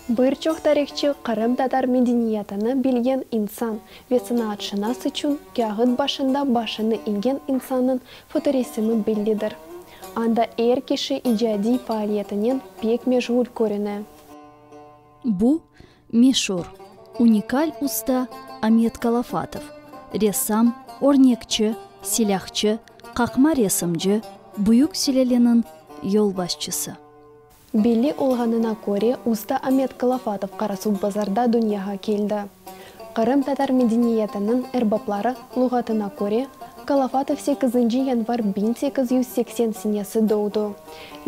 Bir çoq tarihçı qırımtatar medeniyetini bilgen insan ve sınaatşınas içün kâğıt başında başını eñgen insannıñ fotoresimi bellidir. Anda er kişi icadiy faaliyetinen pek meşğul körüne. Bu, meşur, unikal usta Amet Kalafatov, ressam, örnekçi, silâhçı, qaqma resimci, büyük sülaleniñ yolbaşçısı. Belli olğanına köre, usta Amet Kalafatov Qarasuvbazarda dünyağa keldi. Qırımtatar medeniyetiniñ erbapları luğatına köre, Kalafatov sekizinci yanvar biñ sekiz yüz seksen senesi doğdu,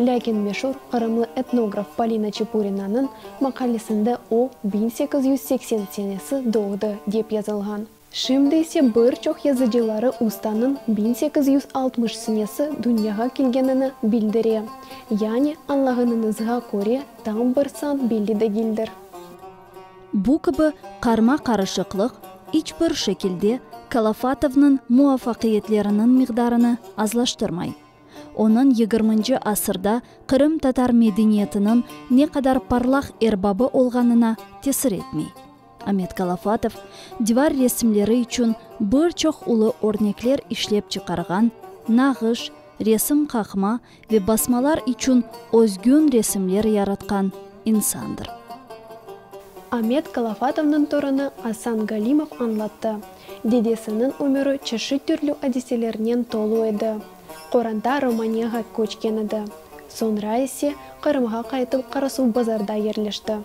Lâkin meşur qırımlı etnograf Polina Çepurinanıñ maqalesinde o, biñ sekiz yüz seksen senesi doğdı, dep yazılğan. Şimdi ise bir çoq yazıcıları ustanıñ biñ sekiz yüz altmış senesi dünyağa kelgenini bildire. Yani, añlağanıñızğa köre, tam bir san belli degildir. Bu kibi qarma-qarışıqlıq, iç bir şekilde, Kalafatovnıñ muvafaqiyetleriniñ miqdarını azlaştırmay. Onıñ yigirminci asırda Qırım tatar medeniyetiniñ ne qadar parlaq erbabı olğanına tesir etmey. Amet Kalafatov divar resimleri içün bir çoq ulu örnekler işlep çıqarğan, nağış, resim qaqma ve basmalar içün özgün resimler yaratqan insandır. Amet Kalafatovnıñ torunı Asan Galimov añlattı. Dedesiniñ ömüri çeşit türlü adiselernen tolu edi. Qoranta Romaniya'ğa köçken edi. Soñra ise Qırımğa qaytıp Qarasuvbazarda yerleşti.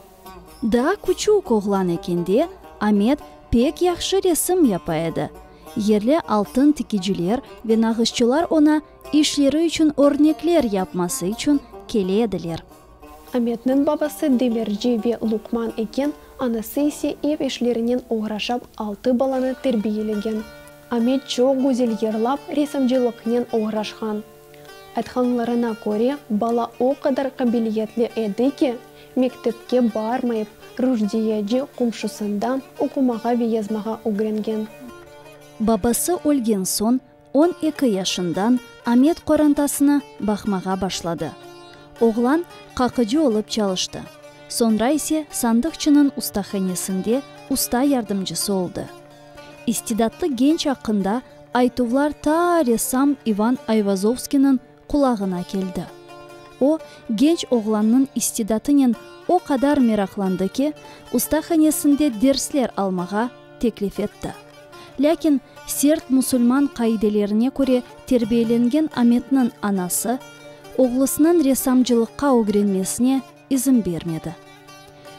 Daa küçük oğlan ekende Amet pek yahşı resim yapa edi. Yerli altın tikiciler ve nağışçılar oña işleri içün örnekler yapması içün kele ediler. Ametniñ babası demirci ve luqman eken, anası ise ev işlerinen oğraşap altı balanı terbiyelegen. Amet çoq güzel yırlap, resimcilıqnen oğraşqan. Aytqanlarına köre, bala o qadar qabiliyetli edi ki, mektepke barmayıp, Rujdiyeci qomşusında oqumağa ve yazmağa ögrengen. Babası ölgen soñ, On eki yaşından Amet qorantasına baqmağa başladı. Oğlan qaqıcı olıp çalıştı, soñra ise sandıqçınıñ ustahanesinde usta yardımcısı oldı. İstidatlı genç aqqında aytuvlar ta ressam İvan Ayvazovskiyniñ qulağına keldi. O, genç oğlannıñ istidatınen o qadar meraqlandı ki, ustahanesinde dersler almağa teklif etti. Lâkin sert musulman qaidelerine köre terbiyelengen Ametniñ anası, oğlusınıñ ressamcılıqqa ögrenmesine izin bermedi.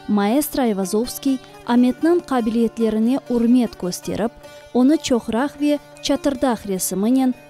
Maestro Ayvazovskiy Ametniñ qabiliyetlerine ürmet kösterip, onı çoqraq ve çatırdaq resiminen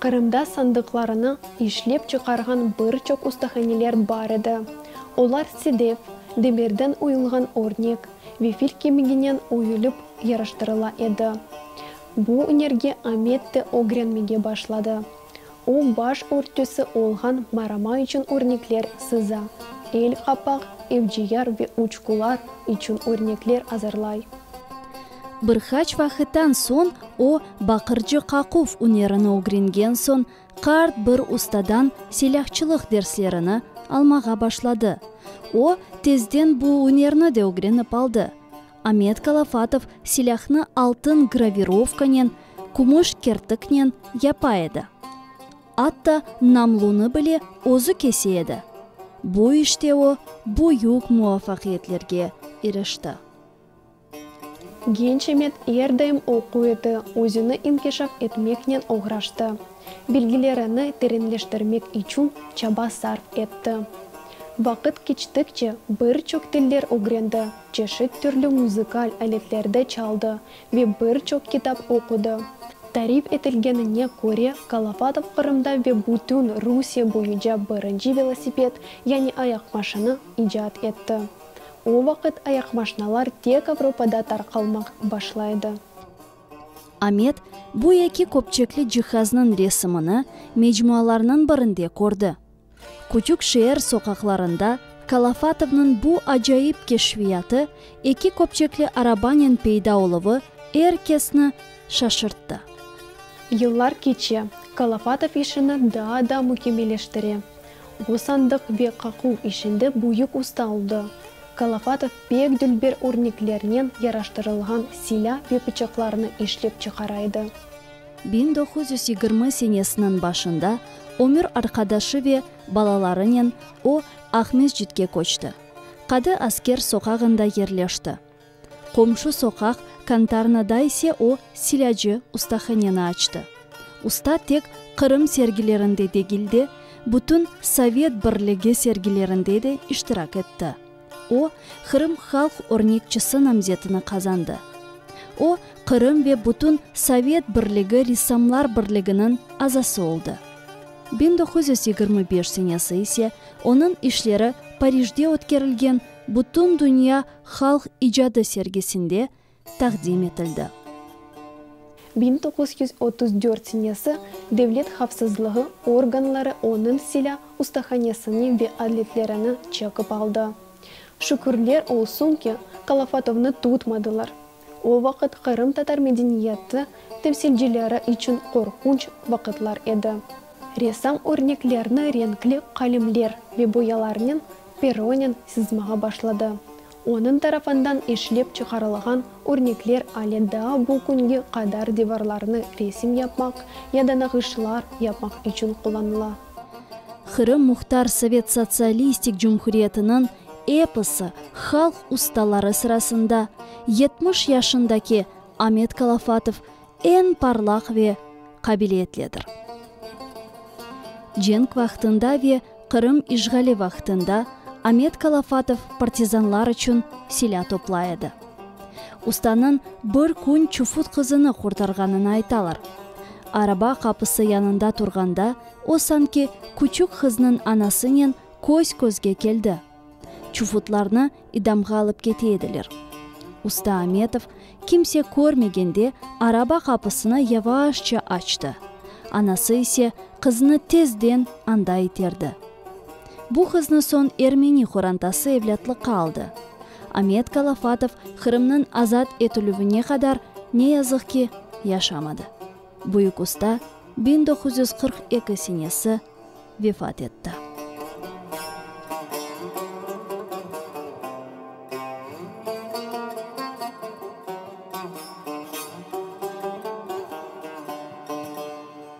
Qırımda sandıqlarını işlep çıqarğan bir çoq ustahaneler bar edi. Olar sedev, demirden uyulğan örnek, ve fil kemiginen uyulip yaraştırıla edi. Bu ünerge Amet de ögrenmege başladı. O, baş örtüsi olğan marama içün örnekler sıza, el qapaq, evciyar ve uçqular içün örnekler azırlay. Bir qaç vaqıttan soñ o, baqırcı qaquv ünerini ögrengen soñ, qart bir ustadan silâhçılıq derslerini almağa başladı. O, tezden bu ünerni de ögrenip aldı. Amet Kalafatov silâhnı altın gravirovkanen, kümüş kertiknen yapa edi. Atta namlunı bile özü kese edi. Bu işte o, büyük muvafaqiyetlerge irişti. Genç Amet er daim oquv edi, özüni inkişaf etmeknen oğraştı. Bilgilerini terenleştirmek içün çaba sarf etti. Vaqıt keçtikçe bir çoq tiller ögrendi, çeşit türlü muzıkal aletlerde çaldı ve bir çoq kitap oqudı. Tarif etilgenine köre, Kalafatov Qırımda ve bütün Rusiye boyunca birinci velosiped, yani ayaq maşını, icat etti. O vaqıt ayaq maşnalar tek Avropada tarqalmaq başlaydı. Amet, bu eki köpçekli cihaznıñ resimini mecmualarnıñ birinde kördi. Küçük şeer soqaqlarında Kalafatovnıñ bu acayip keşfiyatı, eki köpçekli arabanen peyda oluvı er kesni şaşırttı. Yıllar keçe, Kalafatov işini daa da mükemmeleştire. Qosandıq ve qaquv işinde büyük usta oldı. Kalafatov pek dülber örneklernen yaraştırılğan silâ ve pıçaqlarnı işlep çıqara edi. Biñ doquz yüz yigirmi senesiniñ başında ömür arqadaşı ve balalarınen o, Aqmescitke köçti. Qadı Asker soqağında yerleşti. Qomşu soqaq Kantarnada ise o, silâcı ustahaneni açtı. Usta tek Qırım sergilerinde degil de, bütün Sovet Birligi sergilerinde de iştirak etti. O, Qırım halq örnekçisi namzetini qazandı. O, Qırım ve bütün Sovet Birligi Ressamlar Birliginiñ azası oldı. Biñ doquz yüz yigirmi beş senesi ise onıñ işleri Parijde ötkerilgen Bütündünya halq icadı sergisinde taqdim etildi. Biñ toquz yüz otuz dört senesi devlet havfsızlığı organları onıñ silâ ustahanesini ve adletlerini çekip aldı. Şükürler olsun ki, Kalafatovnı tutmadılar, O vaqıt qırımtatar medeniyeti temsilcileri içün qorqunç vaqıtlar edi. Ressam örneklerni renkli qalemler ve boyalarnen peronen sızmağa başladı. Onıñ tarafından işlep çıqarılğan örnekler ale daa bu künge qadar divarlarnı resim yapmaq ya da nağışlar yapmaq içün qullanıla. Qırım Muhtar Sovet Sotsialistik Cumhuriyetiniñ eposı halq ustaları sırasında yetmiş yaşındaki Amet Kalafatov eñ parlaq ve qabiliyetlidir. Cenk vaqtında ve Qırım işğali vaqtında Amet Kalafatov partizanlar içün silâ toplay edi. Ustanıñ bir kün çufut qızını qurtarğanını aytalar. Araba qapısı yanında turğanda, o sanki küçük qıznıñ anasınen köz-közge keldi. Çufutlarnı idamğa alıp kete ediler. Usta Ametov, kimse körmegende, araba qapısını yavaşça açtı, anası ise qızını tezden anda iterdi. Bu qıznı soñ ermeni qorantası evlâtlıqqa aldı. Amet Kalafatov Qırımnıñ azat etilüvine qadar, ne yazıq ki, yaşamadı. Büyük usta biñ doquz yüz qırq eki senesi vefat etti.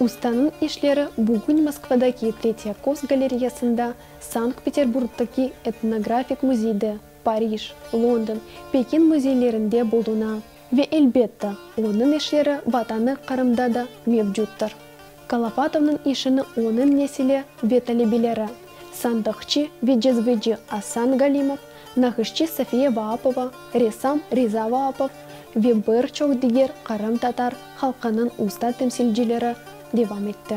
Ustanıñ işleri bugün Moskvadaki Tretyakos galereyasında, Sankt-Peterburgdaki Etnografik müzeyde, Parij, London, Pekin müzeylerinde buluna. Ve, elbette, onıñ işleri Vatanı Qırımda da mevcuttır. Kalafatovnıñ işini onıñ nesili ve talebeleri, sandıqçı ve cezveci Asan Galimov, naqışçı Safiye Vaapova, ressam Riza Vaapov ve bir çoq diger qırımtatar halqınıñ usta temsilcileri devam etti.